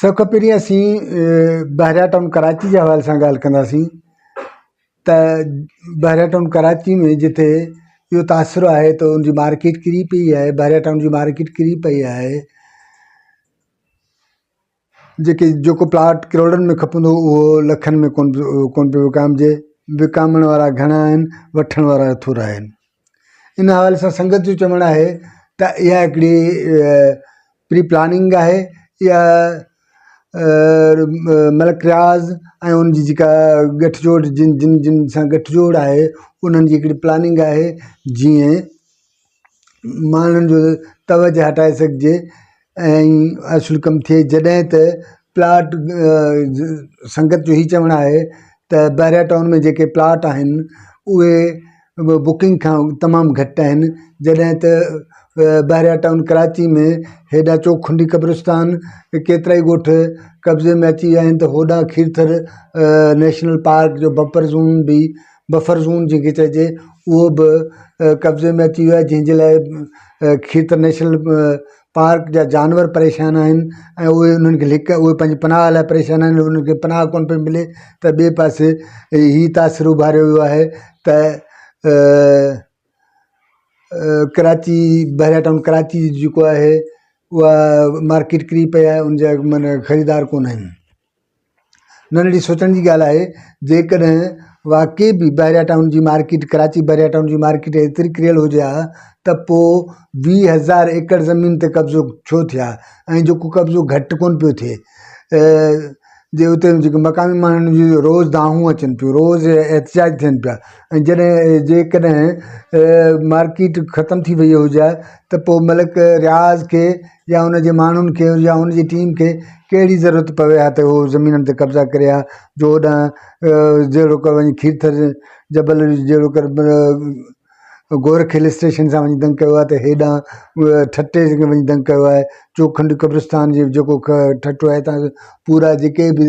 سڀ کان پهرين اسين بحريا ٽائون ڪراچي جي حوالي سان ڳالهه ڪنداسين ته بحريا ٽائون ڪراچي ۾ جتي اهو تاثر آهي ته ان جي مارڪيٽ ڪري پئي آهي بحريا ٽائون جي مارڪيٽ ڪري پئي آهي جيڪي جيڪو پلاٽ ڪروڙن ۾ کپندو هو اهو لکن ۾ ڪون ڪون پيو وڪامجي وڪامڻ وارا گهڻا آهن وٺڻ وارا ٿورا آهن ان حوالي سان سنگت جو چوڻ آهي ته اها هڪڙي پري پلاننگ آهي يا ملڪ رياض ۽ ان جي جيڪا ڳٺ جوڙ جن جن جن سان ڳٺ جوڙ آهي انهن جي هڪڙي پلاننگ آهي جيئن ماڻهن جو توجهه هٽائي سگهجي ائين اصل ڪم ٿئي جڏهن ته پلاٽ سنگت جو هي چوڻ آهي ته بحريا ٽائون ۾ جيڪي پلاٽ آهن اهي بڪنگ کان تمام گهٽ آهن جڏهن ته بحريا ٽائون ڪراچي ۾ هيڏا چوکنڊي قبرستان ڪيترائي ڳوٺ قبضي ۾ اچي ويا آهن ته هوڏانهن کيرٿر نيشنل پارڪ جو بفر زون به بفر زون جنهنکي چئجي اهو به قبضي ۾ اچي ويو آهي جنهن جي لاء کيتر نيشنل پارڪ جا جانور پريشان آهن ۽ اهي انهن کي لڪ اهي پنهنجي پناهه لاء پريشان آهن انهن کي پناهه ڪونه پئي ملي ته ٻئي پاسي هي تاثر اڀاريو ويو آهي ته ڪراچي بحريا ٽائون ڪراچي جيڪو آهي اها مارڪيٽ ڪري پئي آهي ان جا معنيٰ خريدار ڪونه آهن ننڍڙي سوچڻ جي ڳالهه آهي جيڪڏهن واقعي به بحريا ٽائون جي مارڪيٽ ڪراچي بحريا ٽائون جي مارڪيٽ ايتري ڪريل هجي ها ته پوء ويهه هزار ايڪڙ زمين تي قبضو ڇو ٿئي ها ۽ جيڪو قبضو گهٽ ڪونه پيو ٿئي جي اتي جيڪي مقامي ماڻهن جي روز دانهون اچن پيون روز احتجاج ٿين پيا ۽ جڏهن جيڪڏهن مارڪيٽ ختم ٿي ويئي هجي ها ته پوء ملڪ رياض کي يا ان جي ماڻهن کي يا ان جي ٽيم کي ڪهڙي ضرورت پوي ها ته هو زمينن تي قبضا ڪري ها جو هوڏانهن جهڙوڪ وڃي کيرٿر جبل جهڙو ڪر گورک هل اسٽيشن سان وڃي دنگ ڪيو آهي ته هيڏانهن ٺٽي جي وڃي دنگ ڪيو آهي چوکنڊ قبرستان جي جيڪو ٺٽو آهي تان پورا جيڪي بي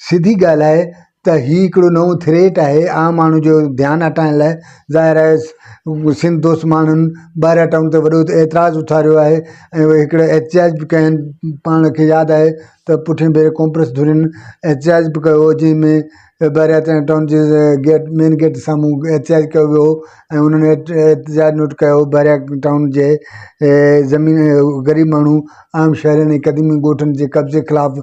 سڌي ڳالهه آهي ته هي هڪڙو نئون ٿريٽ آهي عام ماڻهو جو ڌيان هٽائڻ لاء ظاهر آهي سنڌ دوست ماڻهن ٻارهن اٽائون تي وڏو اعتراض اٿاريو آهي ۽ اهي هڪڙا احتجاج به ڪيا آهن پاڻ کي ياد آهي ته پٺين ڀيري ڪانگريس ڌرين احتجاج به ڪيو جنهن ۾ ٻارهن اٽائون ٽائون جي گيٽ مين گيٽ جي سامهون احتجاج ڪيو ويو هو ۽ انهن احتجاج نوٽ ڪيو هو ٻارهن ٽائون جي زمين غريب ماڻهو عام شهرين ۽ قديمي ڳوٺن جي قبضي خلاف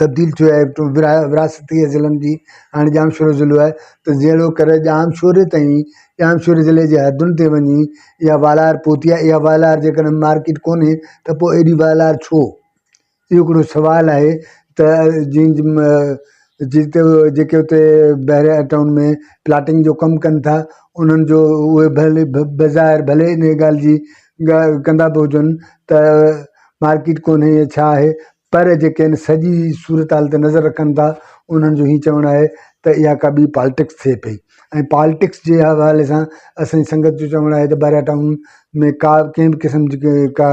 تبديل ٿيو آهي وراثتي ضلعن جي هاڻي ڄامشورو ضلعو آهي ته جهڙو ڪر ڄامشوري تائين ڄامشوري ضلعي جي حدن تي وڃي يا والار پهتي آهي اها والار جيڪڏهن مارڪيٽ ڪونهي ته پوء اهڙي والار ڇو اهو هڪڙو سوال آهي ته جنهن جتي جيڪي اتي بحريا ٽائون ۾ پلاٽنگ جو ڪم ڪن ٿا انهن جو اهي ڀلي بظاهر ڀلي ان ڳالهه جي ڳالهه ڪندا به هجن ته مارڪيٽ ڪونهي يا ڇا آهي پر جيڪي ان سڄي صورتحال تي نظر رکن ٿا انهن جو هي چوڻ آهي ته اها ڪا ٻي پالٽڪس ٿئي پئي ۽ پالٽڪس جي حوالي سان اسان جي سنگت جو چوڻ آهي ته بحريا ٽائون ۾ ڪا ڪنهن به قسم جي ڪا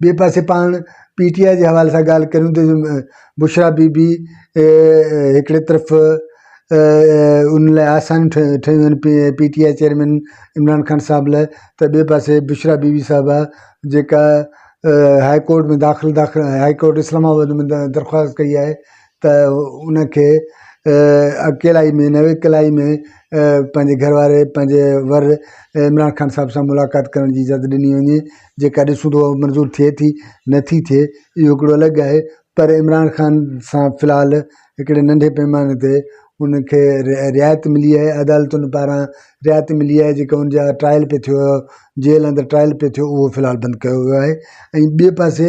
ٻئي پاسي پاڻ پي ٽي آء جي حوالي سان ڳالهه ڪريون ته بشريٰ بي بي هڪڙي طرف ان لاء آسان ٺهي ٺهيون آهن P P T I chairman Imran Khan Sahib لاء ته ٻئي پاسي بشريٰ بي بي صاحبه جيڪا هاء ڪورٽ ۾ داخل داخل هاء ڪورٽ اسلام آباد ۾ درخواست ڪئي آهي ته ان کي اڪيلائي ۾ نه وڪلائي ۾ پنهنجي گهر واري پنهنجي ور عمران خان صاحب سان ملاقات ڪرڻ جي اجازت ڏني وڃي جيڪا ڏسون ٿا اهو منظور ٿئي ٿي نه ٿي ٿئي اهو هڪڙو الڳ ڳالهه آهي پر عمران خان سان في الحال هڪڙي ننڍي پيماني تي ان کي رعايت ملي آهي عدالتن پاران رعايت ملي آهي جيڪا ان جا ٽرائل پئي ٿيو جيل اندر ٽرائل پئي ٿيو اهو في الحال بند ڪيو ويو آهي ۽ ٻئي پاسي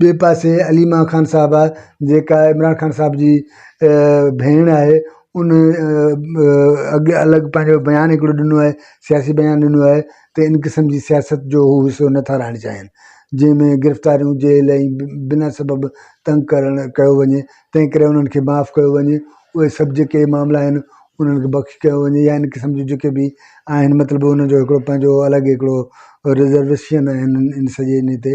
ٻئي پاسي عليما خان صاحبه جيڪا عمران خان صاحب جي ڀيڻ آهي ان اڳ الڳ پنهنجو بيان هڪڙو ڏنو آهي سياسي بيان ڏنو آهي ته ان قسم جي سياست جو هو حصو نه ٿا رهڻ چاهين جنهن ۾ گرفتاريون جيل ۽ بنا سبب تنگ ڪرڻ ڪيو وڃي تنهن ڪري انهن کي معاف ڪيو وڃي اهي سڀ جيڪي معاملا آهن انهن کي بخش ڪيو وڃي يا ان قسم جون جيڪي به آهن مطلب ان جو هڪڙو پنهنجو الڳ هڪڙو رزرويشن آهن ان سڄي ان تي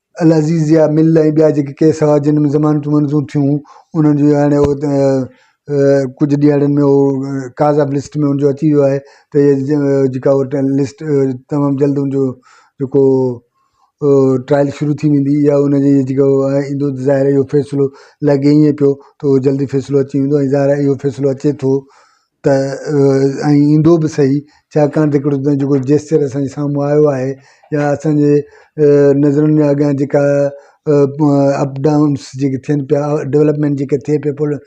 العزيزيه مل ۽ ٻيا جيڪي ڪيس هئا جن ۾ ضمانتون منظور ٿيون انهن جي هاڻي ڪجهه ڏهاڙن ۾ ڪاز آف لسٽ ۾ ان جو اچي ويو آهي ته جيڪا لسٽ تمام جلد ان جو جيڪو ٽرائل شروع ٿي ويندي يا ان جي جيڪو آهي ايندو ته ظاهر اهو فيصلو لڳي ائين پيو ته جلدي فيصلو اچي ويندو ۽ ظاهر اهو فيصلو اچي ٿو ته ۽ ايندو به سهي ڇاڪاڻ ته هڪڙو تنهنجو جيڪو جيسچر اسانجي سامهون آيو آهي يا اسانجي نظرن جي اڳيان جيڪا اپ ڊائونس جيڪي ٿين پيا ڊولپمينٽ جيڪي ٿئي پئي پل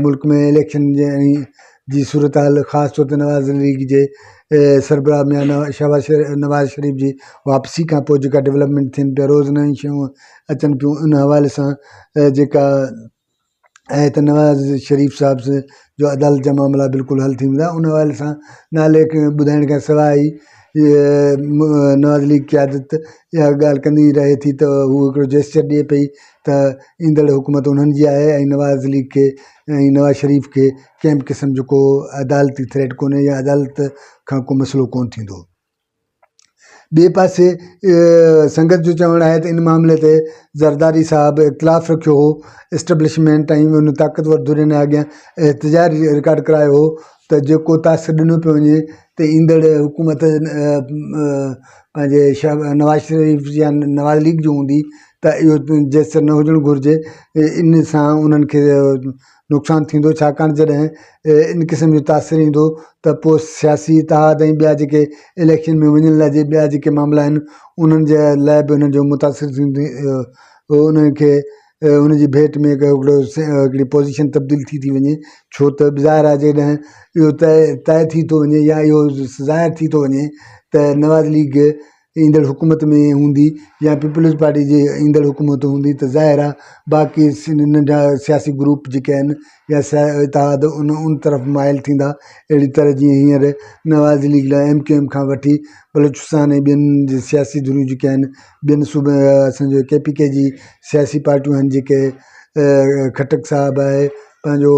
ملڪ ۾ اليڪشن جي ۽ جي صورتحال خاص طور تي نواز ليگ جي سربراهه ميان شهباز شري نواز شريف جي واپسي کان پوء جيڪا ڊولپمينٽ ٿين پيا روز نيون شيون اچن پيون ان حوالي سان جيڪا آهي ته نواز شريف صاحب جو عدالت جا معاملا بلڪل حل ٿي ويندا ان حوالي سان نالي ٻڌائڻ کان سواء ئي نواز ليگ قيادت اها ڳالهه ڪندي رهي ٿي ته هو هڪڙو جيسچر ڏئي پئي ته ايندڙ حڪومت انهن جي آهي ۽ نواز ليگ کي ۽ نواز شريف کي ڪنهن به قسم جو ڪو عدالتي ٿريٽ ڪونهي يا عدالت کان ڪو مسئلو ڪونه ٿيندو ٻئي پاسي سنگت جو چوڻ آهي ته ان معاملي تي زرداري صاحب اختلاف رکيو هو اسٽبلشمينٽ ۽ ان طاقتور ڌرين اڳيان احتجاج رڪارڊ ڪرايو هو ته جيڪو تاثر ڏنو پيو وڃي ته ايندڙ حڪومت پنهنجي نواز شريف جي يا نواز ليگ جي هوندي ته اهو جيسر نه هجڻ گهرجي ان سان انهن کي نقصان ٿيندو ڇاڪاڻ جڏهن ان قسم جو تاثر ايندو ته پوء سياسي اتحاد ۽ ٻيا جيڪي اليڪشن ۾ وڃڻ لاء جي ٻيا جيڪي معاملا آهن انهن جي لاء به انهن جو متاثر ٿيندي انهن کي ان جي ڀيٽ ۾ هڪڙو هڪڙي پوزيشن تبديل ٿي ٿي وڃي ڇو ته ظاهر آهي جيڪڏهن اهو طئي طئي ٿي ٿو وڃي يا اهو ظاهر ٿي ٿو وڃي ته نواز ليگ ايندڙ حڪومت ۾ هوندي يا پيپلز پارٽي جي ايندڙ حڪومت هوندي ته ظاهر آهي باقي ننڍا سياسي گروپ جيڪي آهن يا اتحاد ان ان طرف مائل ٿيندا اهڙي طرح جيئن هينئر نواز ليگ لاء ايم ڪيو ايم کان وٺي بلوچستان ۽ ٻين جي سياسي ڌريون جيڪي آهن ٻين صوبن اسانجي ڪي پي ڪي جي سياسي پارٽيون آهن جيڪي خٽڪ صاحب آهي پنهنجو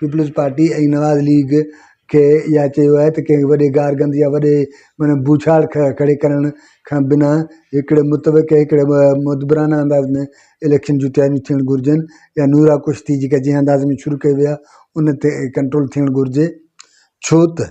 پيپلز پارٽي ۽ نواز ليگ کي اها چيو آهي ته ڪنهن وڏي گار گند يا وڏي معنيٰ ڀوڇاڙ کڙي ڪرڻ کان بنا هڪڙي متفقه هڪڙي مدبرانه انداز ۾ اليڪشن جون تياريون ٿيڻ گهرجن يا نورا ڪشتي جيڪا جنهن انداز ۾ شروع ڪئي وئي آهي ان تي ڪنٽرول ٿيڻ گهرجي ڇو ته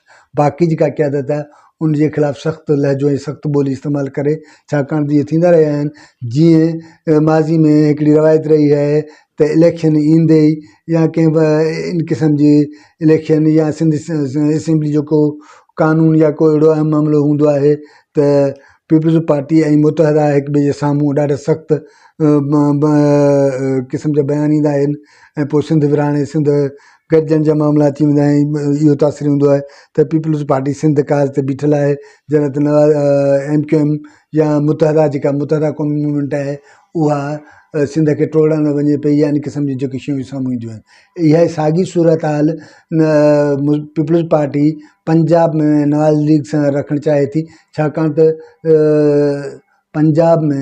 باقي جيڪا قيادت آهي ان جي خلاف سخت لهجو ۽ سخت ٻولي استعمال ڪري ڇاڪاڻ ته اهي ٿيندا رهيا آهن جيئن ماضي ۾ هڪڙي روايت رهي آهي ته اليڪشن ايندي ئي يا ڪنهن به ان قسم جي اليڪشن يا سنڌ اسيمبلي جو ڪو قانون يا ڪو اهڙو اهم معاملو هوندو آهي ته پيپلز پارٽي ۽ متحده هڪ ٻئي جي سامهون ڏاڍا سخت قسم جا بيان ڏيندا آهن ۽ پوء سنڌ ورهايڻ سنڌ گڏجڻ جا معاملا اچي ويندا آهن ۽ اهو تاثر هوندو آهي ته پيپلز پارٽي سنڌ ڪاز تي بيٺل آهي جڏهن ته نواز ايم ڪيو ايم يا متحده جيڪا متحده قومي موومينٽ آهي اها سنڌ کي ٽوڙڻ ۾ وڃي پئي يعني قسم جون جيڪي شيون سامهون اينديون آهن اها ئي ساڳي صورت حال Peoples Party Punjab ۾ Nawaz League سان رکڻ چاهي ٿي ڇاڪاڻ ته پنجاب ۾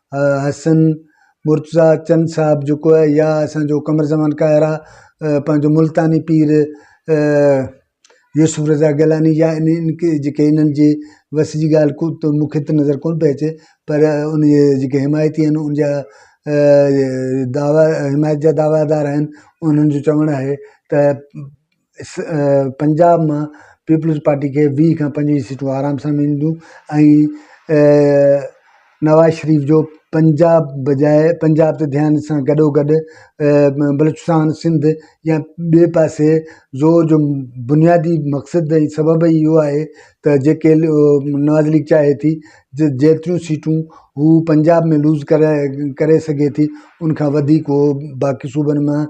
حسن مرتضيٰ چن صاحب جيڪو آهي يا اسانجو قمر زمان قاهر آ پنهنجو ملتاني پير يوسف رضا گيلاني يا ان ان کي جيڪي انهن جي وس جي ڳالهه ڪو ته مون کي ته نظر ڪونه پئي اچي پر ان جي جيڪي حمايتي آهن ان جا دعويٰ حمايت جا دعويٰ دار آهن انهن جو چوڻ آهي ته پنجاب مان پيپلز پارٽي کي ويهه کان پنجويهه سيٽون آرام سان ملنديون ۽ نواز شريف جو پنجاب بجاء پنجاب ته ڌيان سان گڏو گڏ بلوچستان سنڌ يا ٻئي پاسي زور جو بنيادي مقصد ۽ سبب اهو آهي ته جيڪي نواز ليگ چاهي ٿي جو جيتريون سيٽون هو پنجاب ۾ لوز ڪري ڪري سگهي ٿي ان کان وڌيڪ هو باقي صوبن مان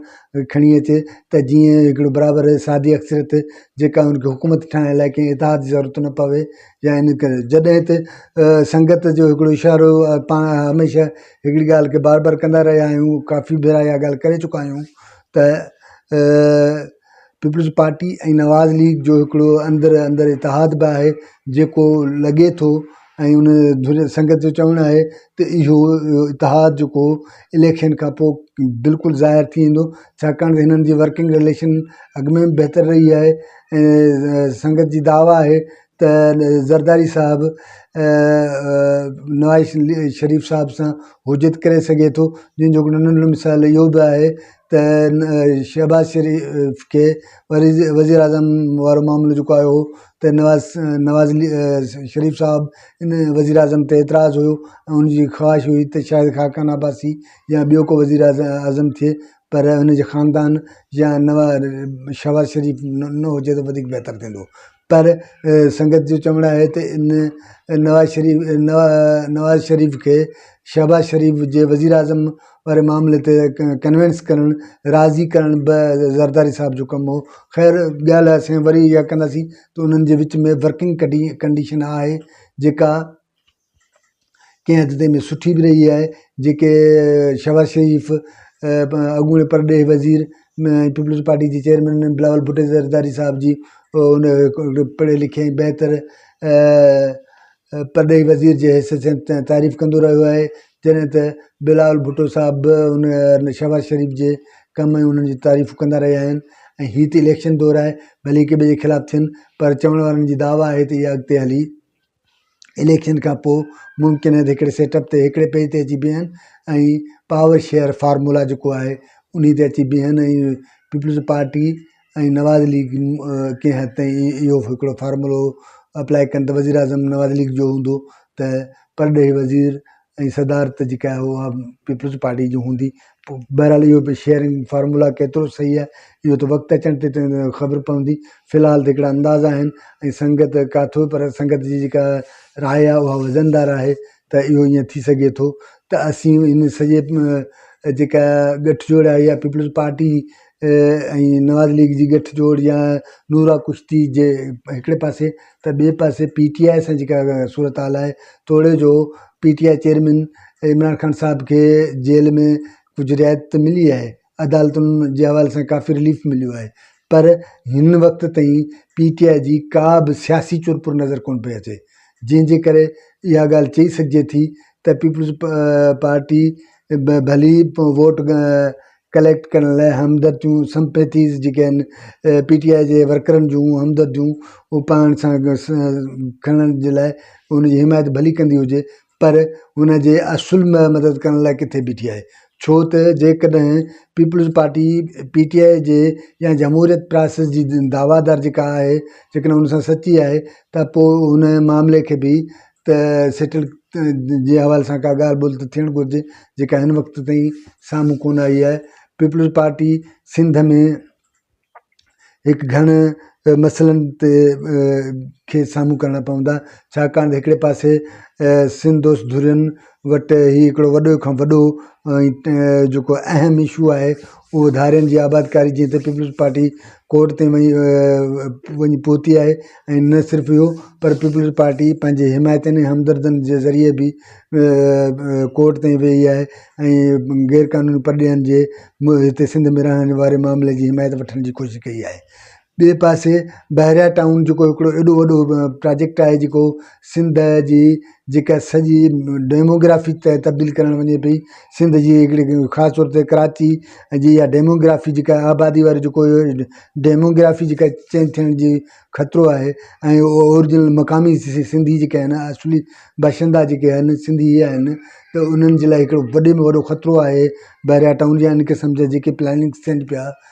کڻي اچي ته جيئن هڪڙو برابر سادي اڪثريت جيڪا ان کي حڪومت ٺاهڻ لاء ڪنهن اتحاد جي ضرورت نه پوي يا ان ڪري جڏهن ته سنگت جو هڪڙو اشارو پاڻ هميشه هڪڙي ڳالهه کي بار بار ڪندا رهيا آهيون ڪافي ڀيرا اها ڳالهه ڪري چڪا آهيون ته پيپلز پارٽي ۽ نواز ليگ جو هڪڙو اندر اندر اتحاد به آهي جيڪو لڳي ٿو ۽ ان سنگت جو چوڻ آهي ته اهو اتحاد جيڪو اليڪشن کان پوء بلڪل ظاهر ٿي ويندو ڇاڪاڻ ته هنن جي ورڪنگ رليشن اڳ ۾ به بهتر رهي آهي ۽ سنگت جي دعويٰ آهي ته زرداري صاحب نواز شريف صاحب سان حجت ڪري سگهي ٿو جنهن جو هڪڙو ننڍڙو مثال اهو به آهي ته شهباز شريف کي وري وزيراعظم وارو معاملو جيڪو آيو هو ته نواز نواز شريف صاحب ان وزيراعظم تي اعتراض هيو ۽ ان جي خواهش هئي ته شايد خاقان عباسي يا ٻيو ڪو وزيراعظم ٿئي پر ان جي خاندان يا نواز شهباز شريف نه هجي ته وڌيڪ بهتر ٿيندو پر سنگت جو چوڻ آهي ته ان نواز شريف نواز شريف کي شهباز شريف جي وزيراعظم واري معاملي تي ڪنوينس ڪرڻ راضي ڪرڻ به زرداري صاحب جو ڪم هو خير ڳالهه اسين وري اها ڪنداسين ته انهن جي وچ ۾ ورڪنگ ڪنڊيشن آهي جيڪا ڪنهن حد تائين ۾ سٺي به رهي آهي جيڪي شهباز شريف اڳوڻي پرڏيهي وزير پيپلز پارٽي جي چيئرمين بلاول ڀٽو زرداري صاحب جي ان پڙهي لکي ۽ بهتر پرڏيهي وزير جي حيثيت سان تعريف ڪندو رهيو آهي جڏهن ته بلاول ڀٽو صاحب به ان شهباز شريف جي ڪم ۽ انهن جي تعريف ڪندا رهيا آهن ۽ هي ته اليڪشن دور آهي ڀلي هڪ ٻئي جي خلاف ٿين پر چوڻ وارن جي دعويٰ آهي ته اها اڳتي هلي اليڪشن کان پوء ممڪن آهي ته هڪڙي سيٽ اپ تي هڪڙي پيج تي اچي بيهن ۽ پاور شيئر فارمولا جيڪو آهي ان تي اچي بيهن ۽ پيپلز پارٽي ۽ نواز ليگ ڪنهن حد تائين اهو هڪڙو فارمولو اپلائي ڪن ته وزيراعظم نواز ليگ جو هوندو ته پرڏيهي وزير ۽ صدارت جيڪا آهي اها پيپلز پارٽي جي هوندي پوء بهرحال اهو به شيئرنگ فارمولا ڪيترو صحيح آهي اهو ته وقت اچڻ تي خبر پوندي في الحال ته هڪڙا اندازا آهن ۽ سنگت ڪاٿو پر سنگت جي جيڪا راء آهي اها وزندار آهي ته اهو ائين ٿي سگهي ٿو ته اسين ان سڄي جيڪا ڳٺجوڙ آهي يا پيپلز پارٽي ۽ نواز ليگ جي ڳٺ جوڙ يا نورا ڪشتي جي هڪڙي پاسي ته ٻئي پاسي پي ٽي آء سان جيڪا صورتحال آهي توڙي جو P T I chairman Imran Khan Sahib کي جيل ۾ ڪجهه رعايت ته ملي آهي عدالتن جي حوالي سان ڪافي رليف مليو آهي پر هن وقت تائين پي ٽي آء جي ڪا به سياسي چور پور نظر ڪونه پئي اچي جنهن جي ڪري اها ڳالهه چئي سگهجي ٿي ته پيپلز پارٽي ڀلي ووٽ ڪليڪٽ ڪرڻ لاء همدرديون Sympathies جيڪي آهن پي ٽي آء جي ورڪرن جون همدرديون اهي پاڻ سان کڻڻ جي لاء ان جي حمايت ڀلي ڪندي هجي پر ان جي اصل مدد ڪرڻ لاء ڪٿي بيٺي آهي ڇو ته جيڪڏهن Peoples Party P T I جي يا جمهوريت پراسيس جي دعويٰ دار جيڪا آهي جيڪڏهن ان سان سچي آهي ته پوء ان معاملي کي به ته سيٽل جي حوالي سان ڪا ڳالهه ٻولهه ته ٿيڻ گهرجي جيڪا هن وقت تائين سامهون ڪونه آئي آهي پيپلز پارٽي سنڌ ۾ هڪ گهڻ مسئلن تي کي سامهون ڪرڻا پوندا ڇاڪاڻ ته هڪڙي پاسي سنڌ دوست ڌرين وٽ هي هڪڙو وڏو کان وڏو جيڪو اهم اشو آهي اهو ڌارين جي آبادڪاري جي تي پيپلز پارٽي ڪورٽ تائين وڃي وڃي پهتي آهي ۽ نه صرف اهو پر پيپلز پارٽي پنهنجي حمايتن ۽ همدردن جي ذريعي به ڪورٽ تائين ويئي آهي ۽ غير قانوني پرڏيهين جي هتي سنڌ ۾ رهڻ واري معاملي جي حمايت وٺڻ جي ڪوشش ڪئي آهي ٻئي پاسي بحريا ٽائون جيڪو هڪڙو ايڏو وڏو پراجيڪٽ آهي جيڪو سنڌ جي جيڪا سڄي ڊيموگرافي تبديل ڪرڻ وڃي پئي سنڌ جي هڪڙي خاص طور تي ڪراچي جي اها ڊيموگرافي جيڪا آبادي وارو جيڪو ڊيموگرافي جيڪا چينج ٿيڻ جي خطرو آهي ۽ اهو اورجنل مقامي سنڌي جيڪي آهن اصلي باشندا جيڪي آهن سنڌي اهي آهن ته انهن جي لاء هڪڙو وڏي ۾ وڏو خطرو آهي بحريا ٽائون جي ان قسم جا جيڪي پلاننگز ٿين پيا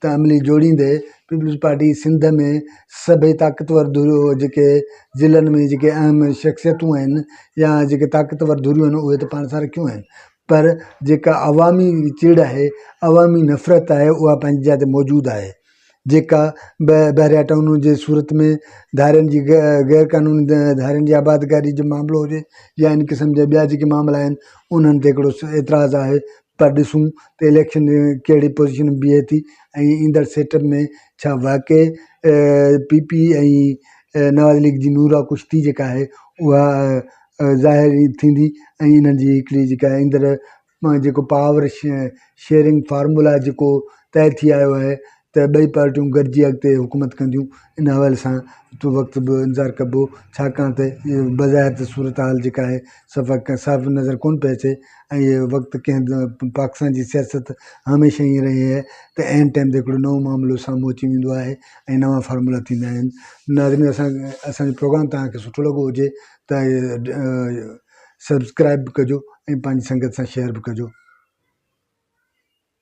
ته عملي جوڙيندي پيپلز پارٽي سنڌ ۾ سڀئي طاقتور ڌريو جيڪي ضلعن ۾ جيڪي اهم شخصيتون آهن يا جيڪي طاقتور ڌريون آهن اهي ته پاڻ سان رکيون آهن پر جيڪا عوامي چڙ آهي عوامي نفرت آهي اها پنهنجي جاء تي موجود آهي جيڪا بحريا ٽائون جي صورت ۾ ڌارين جي غير قانوني ڌارين جي آبادگاري جو معاملو هجي يا ان قسم جا ٻيا جيڪي معاملا آهن انهن تي هڪڙو اعتراض آهي پر ڏسون ته اليڪشن ۾ ڪهڙي پوزيشن ۾ بيهي ٿي ۽ ايندڙ سيٽ اپ ۾ ڇا واقعي پي پي ۽ نواز ليگ جي نورا ڪشتي جيڪا آهي اها ظاهر ٿيندي ۽ انهن جي هڪڙي جيڪا ايندڙ جيڪو پاور شيئرنگ فارمولا جيڪو طئي ٿي آيو آهي ته ٻئي پارٽيون گڏجي اڳتي حڪومت ڪنديون ان حوالي سان ايترو وقت به انتظار ڪبو ڇاڪاڻ ته بظاهر ته صورتحال جيڪا آهي سفا ڪا صاف نظر ڪونه پئي اچي ۽ اهو وقت ڪنهن به پاڪستان جي سياست هميشه ائين رهي آهي ته عين ٽائيم تي هڪڙو نئون معاملو سامهون اچي ويندو آهي ۽ نوان فارمولا ٿيندا آهن ناظرين اسان اسان جو پروگرام توهان کي سٺو لڳو هجي ته سبسڪرائب به ڪجو ۽ پنهنجي سنگت سان شيئر به ڪجو